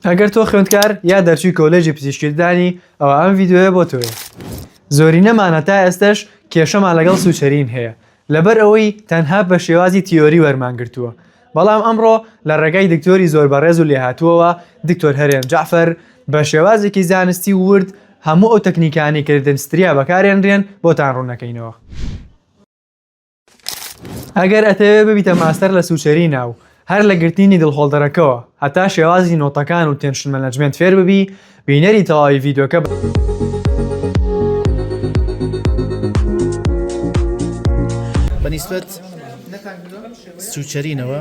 ئەگەر تۆ خوێندکار یا دەرچووی کۆلێژی پزیشکی ددانی ئەوا ئەم ڤیدیۆیە بۆ تۆیە زۆرینەمان هەتا ئێستەش کێشەمان لەگەڵ سوچەرین هەیە لەبەر ئەوەی تەنها بە شێوازی تیۆری وەرمان گرتووە بەڵام ئەمڕۆ لە ڕێگای دکتۆری زۆر بەڕێز و لێهاتووەوە دکتۆر هەرێم جەعفەر بە شێوازێکی زانستی و ورد هەموو ئەو تەکنیکانەی کە لە دەنتستریا بەکارێنرێن بۆتان ڕوونەکەینەوە. ئەگەر ئەتەوێ ببیتە ماستەر لە سوچەری ناو هەر لە گرتنی دڵخۆڵدەرەکەوە هەتا شێوازی نۆتەکان و تێنشن مەنەجمێنت فێر ببی بینەری تەواوی ڤیددیوکە بە بەنیسبەت سوچەرینەوە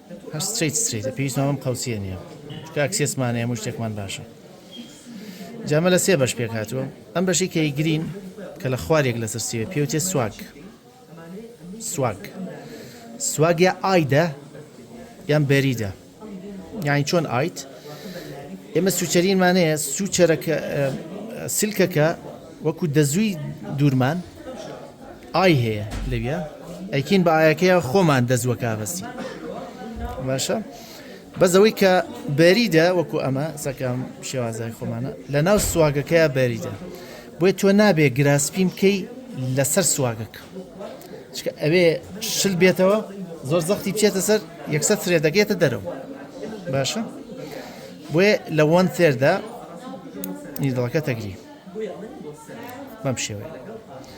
هەر ستریت ستریتە پێویستمان بەم قەوسیە نیە چکە ئەکسێسمان هەیە هەموو شتێکمان باشە جا ئەمە لە سێ بەش پێک هاتووە ئەم بەشی کە ی گرین کە لە خوارێک لەسەر سێوێ پێ وتێ سواگ سواگ سواگ یا ئایدە یان بەریدە یانی چۆن ئایت ئێمە سوچەرینمان هەیە سوچەرەکە سلکەکە وەکو دەزووی دوورمان ئای هەیە لەویا ئەیکین بە ئایەکەیە خۆمان دەست وەکابەسی باشە بەس ئەوەی کە بەریدە وەکو ئەمە سەکەم شێوازای خۆمانە لە ناو سواگەکەیە بەریدە بۆی تۆ نابێ گراسپیم کەی لەسەر سواگەکە چکە ئەوێ شل بێتەوە زۆر زەختی بچێتە سەر یەکسەر سرێ دەگێتە دەرەوە باشە بۆیە لە وەن تێردا نیدڵەکە تەگری بەم شێوەیە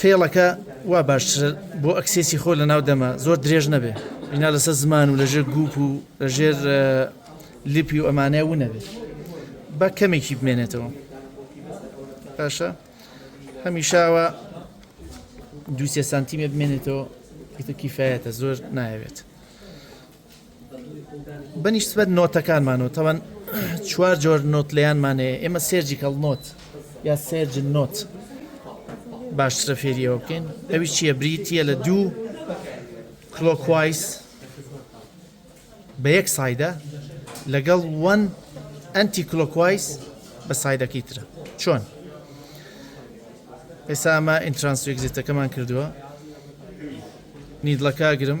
فێڵەکە وا باشترە بۆ ئەکسێسی خۆ لە ناو دەمە زۆر درێژ نەبێ بینا لەسەر زمان و لەژێر گوپ و لەژێر لیپی و ئەمانەیە ونەبێت بە کەمێکی بمێنێتەوە باشە هەمیشاوە دوسێ سانتیمێ بمێنێتەوە کیفاەتە زۆر ناوێت بەنیسبەت نۆتەکانمانەوە تەوەن چوار جۆر نۆت لێیانمان هەیە ئێمە سێرجیکەڵ نۆت یا سێرج نۆت باشترە فێریەوە بکەین ئەوی چییە بریتە لە دوو کلۆکوایس بە یەک سایدە لەگەڵ وەن ئەنتی کلۆکوایس بە سایدەکەی ترە چۆن ئێستا ئەمە ئینترانسوێکزیتەکەمان کردووە نیدڵەکە گرم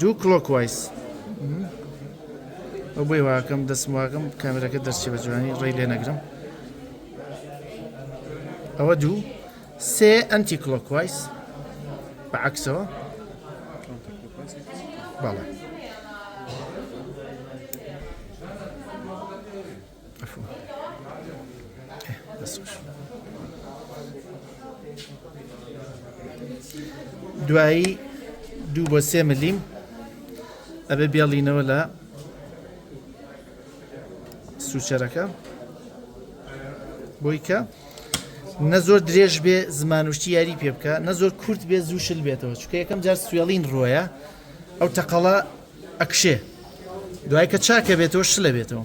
دوو کڵۆک وایس ئەو بۆی واکەم دەستم واکەم کامێرەکە دەرچێ بە جوانی ڕێی لێ نەگرم ئەوە دوو سێ ئەنتی کڵۆک وایس بە عکسەوە بەڵێ دوایی دوو بۆ سێ ملیم ئەبێ بێڵینەوە لە سوچەرەکە بۆی کە نە زۆر درێژ بێ زمانوشتی یاری پێ بکە نە زۆر کورت بێ زوو شل بێتەوە چکە یەکەم جار سوێڵین ڕۆیە ئەو تەقەڵە ئەکشێ دوای کە چاکە بێتەوە شلە بێتەوە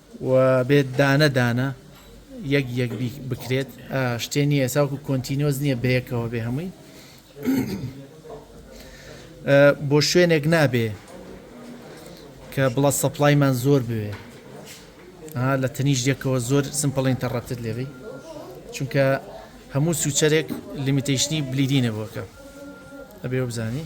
و بێت دانە دانە یەک یەک بکرێت شتێ نییە ئێسا وەکو کۆنتینۆز نییە بەیەکەوە بێ هەمووی بۆ شوێنێک نابێ کە بڵە سەپلایمان زۆر بوێ لە تەنیش یەکەوە زۆر سمپڵ ئینتەڕەپتت لێبی چونکە هەموو سوچەرێک لیمیتەیشنی بلیدینە بۆکە ئەبێ بزانی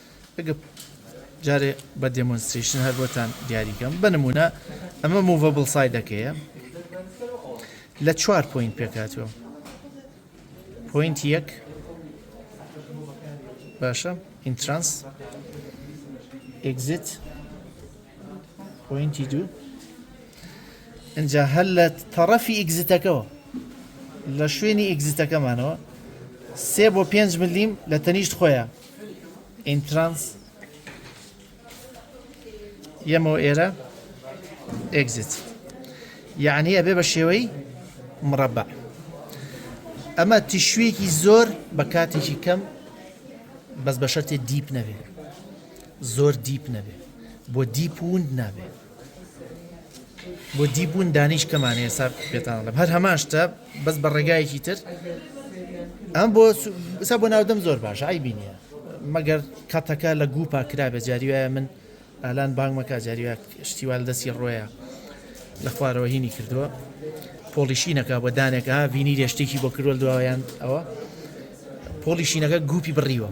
ئەگەر جارێ بە دێمۆنسترەیشن هەر بۆتان دیاری کەم بە نموونە ئەمە موڤەبڵ سایدەکەیە لە چوار پۆینت پێکاتوە پۆینت یەک باشە ئینترانس ئگزیت پۆینتی دوو ئەجا هەر لە تەڕەفی ئگزیتەکەەوە لە شوێنی ئگزیتەکەمانەوە سێ بۆ پێنج ملیم لە تەنیشت خۆیان ئینترانس یەمەوە ئێرە ئێگزیت یعنی ئەبێ بە شێوەی مڕەبە ئەمە تیشوێکی زۆر بە کاتێکی کەم بەس بە شەرتێ دیپ نەبێ زۆر دیپ نەبێ بۆ دیپ وند نابێ بۆ دی بوون دانیش کەمان ئێستا پێتانڵم هەر هەمان شتە بەس بە ڕێگایەکی تر ئەم بۆ سا بۆ ناودەم زۆر باش ئای بینە مەگەر کاتەکە لە گوپا کرا بە جاریواە من ئالان بانگمەکە جاریوا شتیوال دەستی ڕۆیە لە خوارەوە هینی کردووە پۆڵیشینەکە بە دانێکە بینی رێشتێکی بۆ کرۆل دواوەیان ئەوە پۆڵیشینەکە گوپی بڕیوە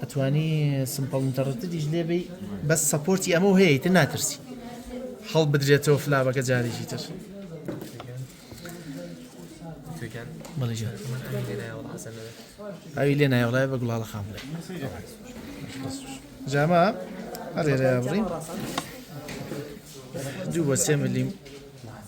ئەتوانی سمپڵ ئینتەڕتدیش لێ بی بەس سەپۆرتی ئەمە هەیە تر ناترسی هەڵ بدرێتەوە فلابەکە جارێکی تر ئەوی لێ نایوەڵای بە گوڵاڵە خام بڵێ جاما ئەرێ بڕین دوو بە سێ ملیم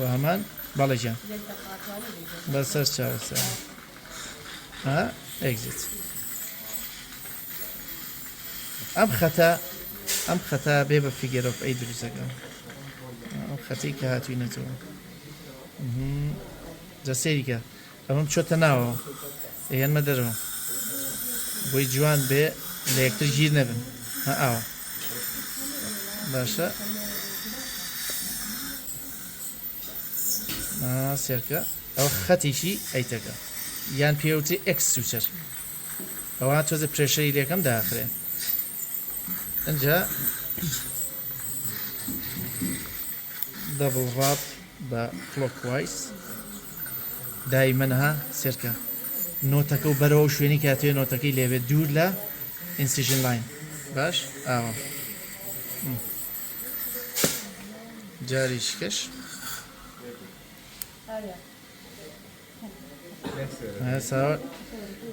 وهمان بەڵێ گیان بەسەر چاوسە ها ئەگزیت ئەم خەتە ئەم خەتا بێ بە فیگەرۆف ئەی دروستەکەم ئەم خەتی کە هاتووی نەتەوە جەسێریکە ئەمە بچۆتە ناوەوە ئەیەنمە دەرەوە بۆی جوان بێ لە یەکتر گیر نەبن ها ئاوە باشە سێرکە ئەو خەتێکی ئەیتەکە یان پێوتی ئەکس سوچەر ئەوە تۆزە پرێشەری لەکەم داخرێ ئەجا دەبڵ ڕاپ بە کڵۆک وایس دایمەن ها سێرکە نۆتەکە و بەرەوە شوێنی کاتێ نۆتەکەی لێبێت دوور لە ئینسیژن لاین باش ئاوە جاری شکش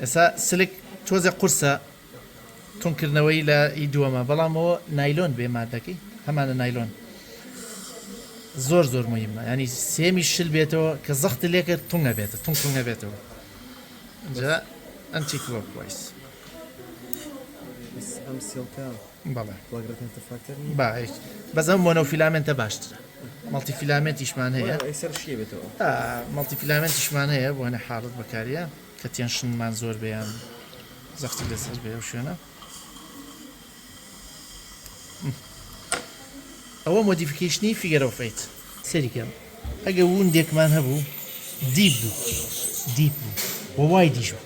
ئێسا سلک تۆزێ قورسە تونکردنەوەی لە ئی دووەمە بەڵامەوە نایلۆن بێ مادەکەی هەمانە نایلۆن زۆر زۆر مهمە ینی سێمی شل بێتەوە کە زەخت لێکە تونگە بێتە تون تونگە بێتەوە ئەنتی کلۆک وایس ئەم سێڵکە بەڵێ بەزەم بۆنە و فیلامنتە باشترە مەڵتی فیلامنتیشمان هەیە مەڵتی فیلامنتیشمان هەیە بۆ هەنە حاڵت بەکاریە کە تێنشنمان زۆر بیان زەختی لەسەر بێ و شوێنە ئەوە مۆدیفیکیشنی فیگەرەوە فیت سەریکەم ئەگە وون دێکمان هەبوو دیپ بوو دیپ بوو وای دیش بوو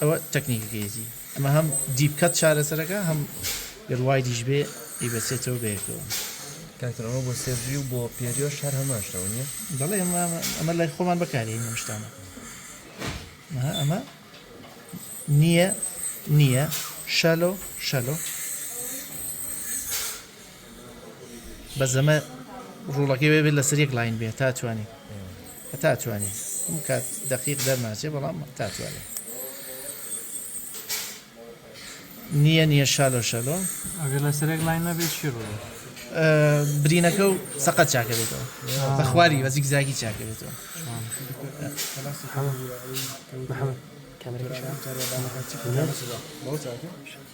ئەوە تەکنیکەکە یەتی ئەمە هەم دیپ کەت چارەسەرەکە هەم گەر وایدیش بێ ئیبەسێتەوە بەیەکەوە. کاکتر ئەمە بۆ سێڤی و بۆ پێریۆش هەر هەمان شتەوە نییە؟ دەڵێ ئەمە ئەمە لای خۆمان بەکارین ئەم شتانە ئەمە نییە نییە شەلۆ شەلۆ بەس ئەمە ڕوڵەکەی وێ بێت لەسەر یەک لاین بێت تا توانین هەتا توانین ئەم کات دەقیق دەرناچێ بەڵام تا توانین نییە نییە شالۆ شەلۆ ئەگەر لە سەرێک لاین نەبێت چی ڕۆ برینەکە و سەقەت چاکە بێتەوە بە خواری بەزیک زاگی چاکە بێتەوە کەمرەکە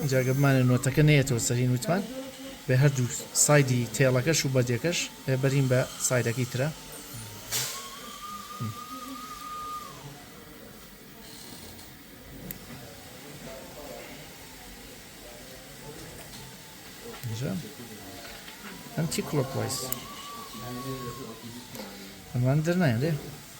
ئینجا گەر بمانەوێت نۆتەکە نەیەتەوە سەر هین وتمان بە هەردوو سایدی تێڵەکەش و بەردەکەش ئەێ بەرین بە سایدەکەی ترە ئەم چی کلۆک وایس ئەمان دەرنایێ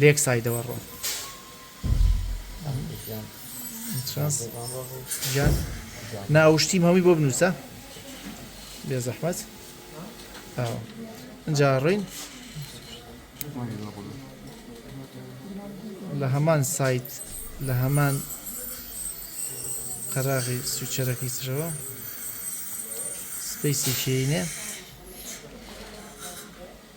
لەیەک سایدەوە ڕۆن گیان ناو شتیم هەمووی بۆ بنووسە بێ زەحمەت ئەجا ڕین لە هەمان سایت لە هەمان قەراغی سوچەرەکەی ترەوە سپیسێکینێ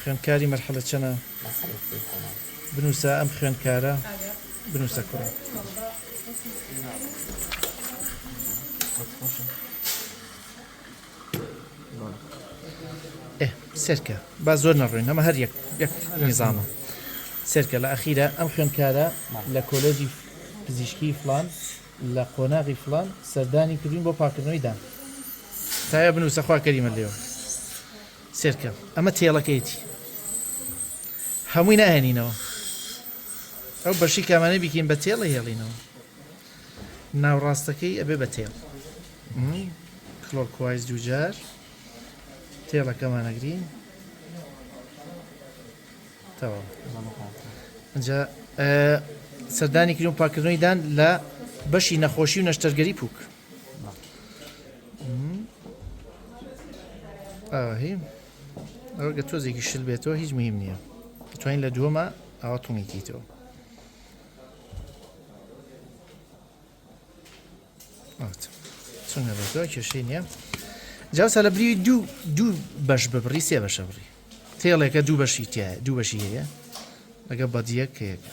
خوێندکاری مەرحەلە چەنە؟ بنووسە ئەم خوێندکارە بنووسە کوڕە. سێرکە با زۆر نەڕوین ئەمە هەر یەک یەک نیزانە سێرکە لە ئەخیرە ئەم خوێندکارە لە کۆلێجی پزیشکی فلان لە قۆناغی فلان سەردانی کردین بۆ پاکردنەوەی دان تکایە بنوسە خوا کەریمە لێوە سێرکە ئەمە تێڵەکەیەتی هەمووی ناهێنینەوە ئەو بەشی کامانەی بیکەین بە تێڵە هێڵینەوە ناوڕاستەکەی ئەبێ بە تێڵ کلۆکوایز دووجار تێڵەکەمانەگرین تەواو ئەجا سەردانی کریم پاکردنەوەی دان لە بەشی نەخۆشی و نەشتەرگەری پوک ئاهی ئەوگە تۆزێکی شل بێتەوە هیچ مهم نییە توانین لە دووەمە ئاوا تۆمیکیتەوە چونە بێتەوە کێشەی نییە جاوسە لە بری دوو دوو بەش ببڕی سێ بەشە بڕی تێڵێکە دوو بەشی تایە دوو بەشی هەیە لەگە بەدیەک هەیەەکە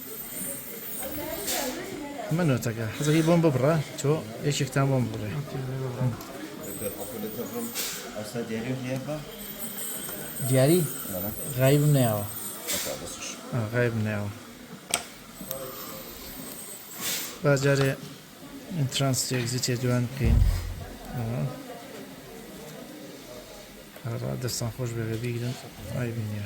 من نوتەکە حەزەکەی بۆم ببڕە تۆ یەکێکتان بۆم بڕێ دیاری غایبم ناوە غایب ناوە باجارێ ئینترانس تێگزیتێ دوان بکەین دەستان خۆش بەێ بیگرن ئای بینە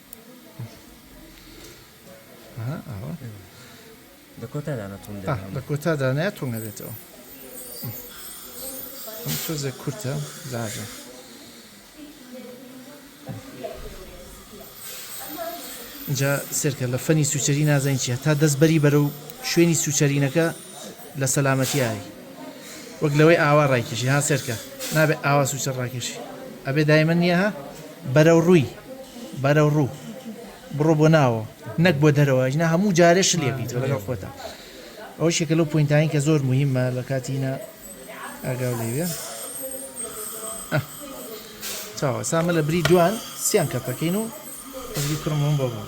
لە کۆتادا نەتون لە کۆتادا ناتون نەبێتەوە تۆزێک کورتە زاژە جا سرکە لە فەنی سوچەری نازانین چیە تا دەست بەری بەرە و شوێنی سوچەرینەکە لە سەلامەتیایی وەک لەوەی ئاوا ڕایکێشی ها سێرکە نابێ ئاوا سوچە ڕاکێشی ئەبێ دایمە نییە ها بەرەو ڕووی بەرەو ڕوو بڕۆ بۆ ناوە نەک بۆ دەرەوە ژنا هەموو جارێ شلێ بیت لەگەڵ خۆتا ئەو شێکە لەو پوینتانی کە زۆر مهمە لە کاتینە ئاگاو لێوێ چاوە سامە لە بری دوان سیان کەپەکەین و ئەزگی کوڕمەوە بۆ بڕ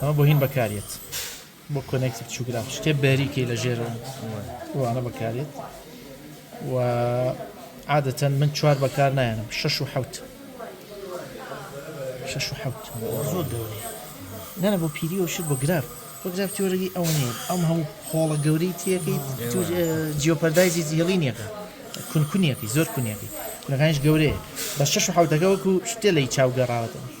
ئەمە بۆ هین بەکارێت بۆ کۆنێکتی بچووگراف شتێ بەریکەی لە ژێر وانە بەکارێت و عادەتەن من چوار بەکار نایەنم شش و حوت شش و حوت زۆر گەورەی نەنە بۆ پیری و شت بۆ گراف بۆ گراف تۆرەی ئەوە نیە ئەم هەموو خۆڵە گەورەی تیەکەی جیۆپەردایزی زیێڵی نیەکە کونکونیەکەی زۆر کونیەکەی کونەکانش گەورەیە بە شش و حوتەکە وەکو شتێ لی چاو گەڕاوەتەوە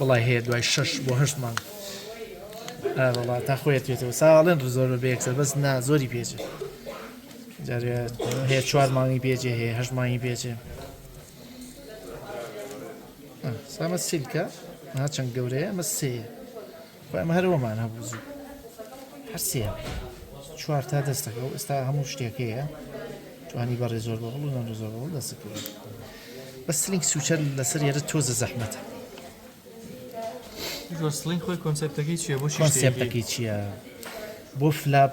وڵی هەیە دوای شش بۆ هەشت مانگ وڵات تا خۆیت پێێتەوە ساڵێن زۆر بە بەیەکسەر بەس نا زۆری پێچێت هەیە چوار مانگی پێچێ هەیە هەش مانگی پێچێ سامە سیلکە هاچەند گەورەیە مە سێە خۆیان هەر ئەوەمان هەبوو زوو هەر سێ چوار تا دەستەکە و ئێستا هەموو شتێک هەیە توانی بە ڕێزۆر بەڵ و نەزۆر بەڵ دەست کرد بە سلینگ سوچەر لەسەر یێرە تۆزە زەحمەتە سلینگ خۆی کۆنسپتەکەی چیە بۆ کۆنسپتەکەی چییە بۆ فلاپ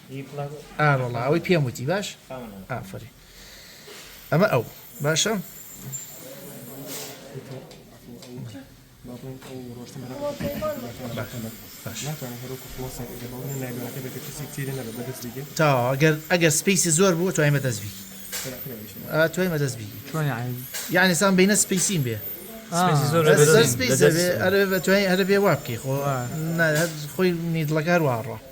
ئار وەڵا ئەوەی پێم وتی باش ئافری ئەمە ئەو باشە تا ئەگەر ئەگەر سپیسی زۆر بوو توای مەدەست بی توای مەدەست بی چۆن یعنی سان بینە سپیسیم بێ ئەرە بە توانین ئەرە بێ وابکەی خۆ خۆی نیدڵەکار واڕە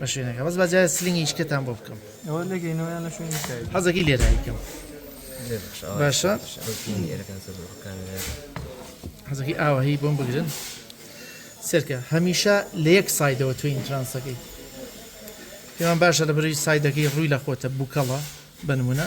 بەشێ نەکە بەس باجار سلینگی شکتان بۆ بکەم حەزەکی لێ دایکم باشە حەزەکی ئاوە هەی بۆم بگرن سرکە هەمیشە لە یەک سایدەوە توی ئینترانسەکەی پێمان باشە لە بەری سایدەکەی ڕووی لە خۆتە بووکەڵە بنمونە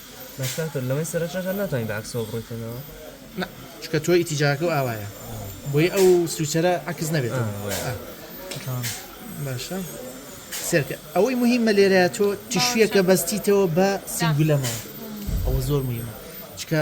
بەس کاکتۆر لەوەی سەرەشەکە ناتوانی بە عەکسەوە بڕۆیتەنەوە؟ نا چونکە تۆ ئیتیجاکە و ئاوایە بۆی ئەو سویچەرە عەکس نەبێتەوە آه وای آه. تمام باشە سێرکە ئەوەی مهمە لێرە تۆ تیشویەکە بەستیتەوە بە سنگولەمەوە ئەوە زۆر مهمە چکە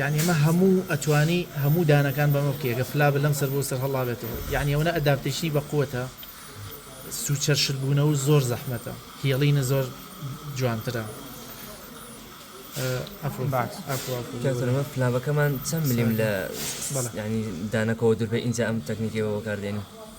یانی ئەمە هەموو ئەتوانی هەموو دانەکان بەمە بکە گە فلا بە لەم سەر بۆ سەر هەڵاێتەوە یعنی ئەوە ئەداپتیشنی بە قوتە سوچەرشتبوونەوە زۆر زەحمەتە هێڵینە زۆر جوانترە پلاوەکەمان چەند ملیم لە ینی دانەکەەوە دوربێ اینجا ئەم تەکنیکەوە بەکاردێنی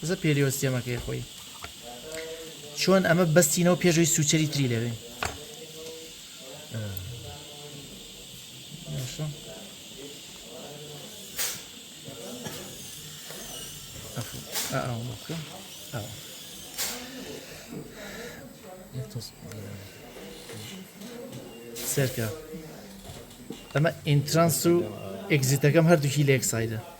بزە پێریۆستێمەکەی خۆی چۆن ئەمە بەستینەوە پێشوی سوچەری تری لەوێ سەرکە ئەمە ئینترانس و ئەگزیتەکەم هەردووکی لەک سایدە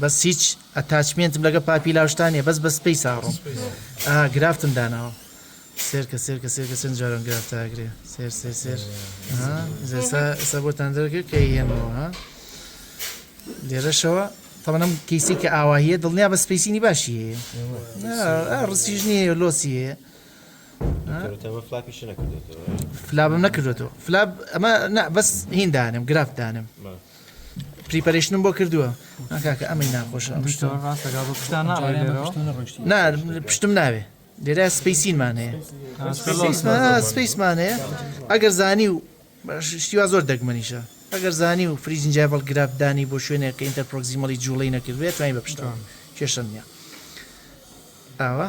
بەس هیچ ئەتاچمێنتم لەگە پاپی لاوشتانە بەس بە سپی ساڕۆم گرافتم داناوە سێر کە سێر کە سێر کە سند جاران گرافتاگرێ سێر سێر سێر سە بۆتان دەرگە کە هێنەوە ها لێرەشەوە تەمەنم کەیسی کە ئاواهەیە دڵنیا بە سپیسینی باشی هەیە ڕسیژنی هەیە لۆسی هەیە فلابم نەکردێتەوە فلاب ئەمە بەس هین دانم گرافت دانم پریپەرشتنم بۆ کردووە ناکاکە ئەمەی ناخۆش پشتم ناوێ لێرا سپیسینمان هەیە سپیسمان هەیە ئەگەر زانی و شتیوا زۆر دەگمەنیشە ئەگەر زانی و فریجنجای بەڵ گراب دانی بۆ شوێنێک کە ئینتەر پرۆکزیمەڵی جوڵی نەکردێت توانین بە پشتەوە کێشە نیە ئاوە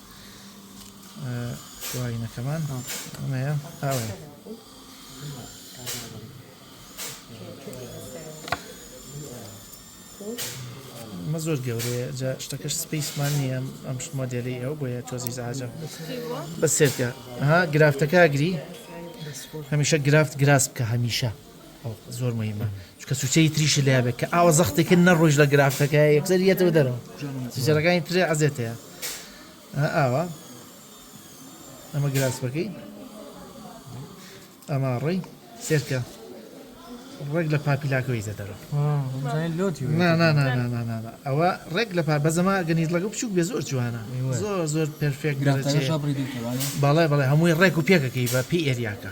شوواینەکەمان ئەمەیە ئاوێ مە زۆر گەورەیە جا شتەکەش سپیسمان نییە ئەم مۆدێلی ئەو بۆیە تۆزی زاجە بە سێتکە ها گرافتەکە گری هەمیشە گرافت گراس بکە هەمیشە زۆر مهمە چکە سوچەی تریش لە بێت کە ئاوە زەختێکن نەڕۆژ لە گرافەکە یەکسەر یەتەوە دەرەوە سوچەکانی ترێ عزێت هەیە ئاوا ئەمە گراسپەکەی ئەمە ڕێی سێرکە ڕێک لە پاپیلاکەوەی زەدەرە ئەوە ڕێک لە پا بەزەما گەنیز لەگە بچوک بێ زۆر جوانە زۆر زۆر پرفێک بەڵێ بەڵێ هەمووی ڕێک و پێکەکەی بە پێ ئێریاکە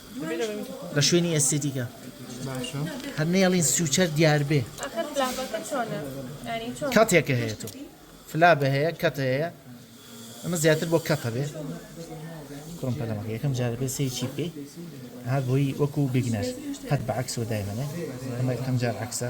بە شوێنی ئێستێتیکە هەر نەیەڵین سوچەر دیار بێ کاتێکە هەیە تۆ فلا بە هەیە کەت هەیە ئەمە زیاتر بۆ کەتە بێ کوڕم پەلەمەکە یەکەم جارە بێ سێ چی بکەی هەر بۆی وەکو بگنەر هەر بە عکسەوە دایمەنێ ئەمە یەکەم جار عکسە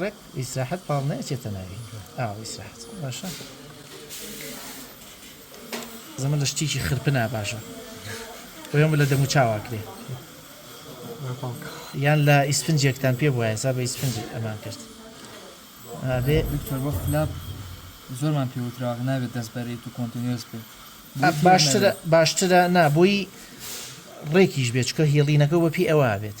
ڕێک ئیسراحەت پاڵ ناچێتە ناوی ئاو ئیسراحەت باشە زەمە لە شتێکی خرپنا باشە بۆیان لە دەمو چاواکرێ یان لە ئیسفنجێکتان پێ بووە سا بە ئیسفنج ئەمان کرد بێ دکتۆر بۆ خلاپ زۆرمان پێوتراغ نابێت دەست بەرێت و کۆنتنیۆس بێت باشترە باشترە نابووی ڕێکیش بێچکە هێڵینەکە وەپی ئەوە بێت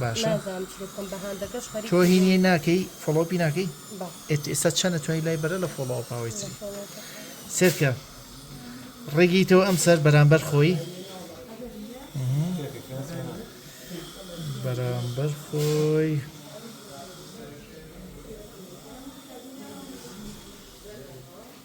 باشە تۆ هی نیە ناکەی فۆڵۆپی ناکەی ئێستا چەنە توانی لای بەرە لە فۆڵۆ ئەپاوەی چی سێرکە ڕێگیتەوە ئەم سەر بەرامبەر خۆی بەرامبەر خۆی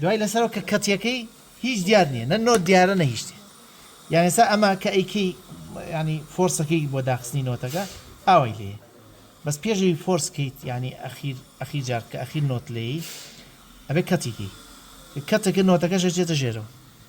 دوای لەسەرەوە کە کەتیەکەی هیچ دیار نیە نە نۆت دیارە نە هیچ شتێ یان ئێستا ئەمە کە ئەیکەی یانی فۆرسەکەی بۆ داخستنی نۆتەکە ئاوای لێ بەس پێشەوی فۆرس کەیت یانی ئەخیر ئەخیر جار کە ئەخیر نۆت لێی ئەبێ کەتیکی کەتەکە نۆتەکەش ئەچێتە ژێرەوە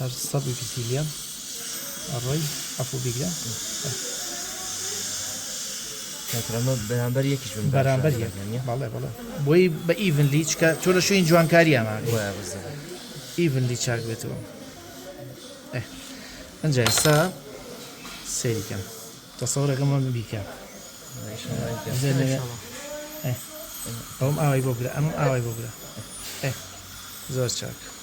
هەر سەد و بیست گرام ئەڕۆی عەفو بیگرە کاترامە بەرامبەر یەکیش بن بەرامبەر یەک بەڵێ بەڵێ بۆی بە ئیڤنلی چکە تۆ لە شوێن جوانکاری ئەما ئیڤنلی چاک بێتەوە ئەجا ئێستا سەیریکەم تەسەورەکە من بیکە ئەوم ئاوای بۆ برە ئەم ئاوای بۆ برە زۆر چاکە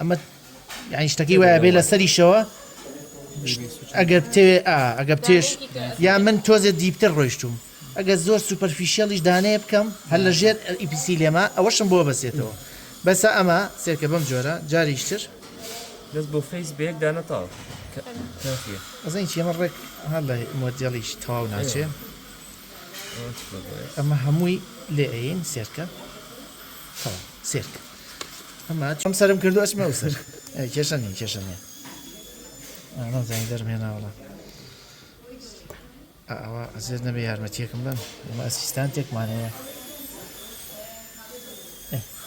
ئەمە یعنی شتەکەی وایە بێ لەسەریشەوە ئەگەر بتەوێ ئەگە بتێش یا من تۆزێ دیپتر ڕۆیشتوم ئەگە زۆر سوپەرفیشیەڵیش دانەیە بکەم هەر لە ژێر ئیپسی لێمە ئەوەشم بۆ بەسێتەوە بەسە ئەمە سێکە بەم جۆرە جاریشتر دەست بۆ فەیس بێک دانەتاو ئەزین چێمە ڕێک هەر لە مۆدیێڵیش تەواو ناچێ ئەمە هەمووی لێ ئەین سێرکە سێرکە ئەم سرم کردو ئەچمە ئەو سەر کێشە نیە کێشە نیە نازانی دەرمێناوەڵە ئەوە ئەزێت نەبێ یارمەتیەکم بم ئەمە ئەسیستان تێکمان هەیە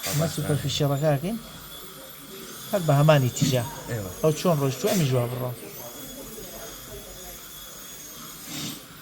ئەمە سوپەرفیشەڵەکەکەین هەر بە هەمانی تیجا ئەو چۆن ڕۆژ تو ئەمی ژوا بڕۆ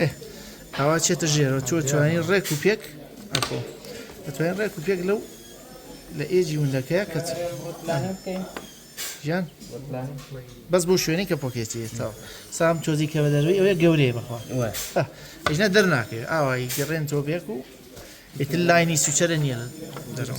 ئێ ئاوا چێتە ژێرەوە تۆ توانین ڕێک و پێک ئەخۆ ئەتوانین ڕێک و پێک لەو لە ئێجی وندەکەیە کە گیان بەس بۆ شوێنی کە پۆکێتی ئێستا سام تۆزی کە بە دەروی ئەوەیە گەورەیە بخوا ئەژنە دەرناکەێت ئاوایی گەڕێن تۆ بێک و ئیتر لاینی سوچەرە نییە دەرەوە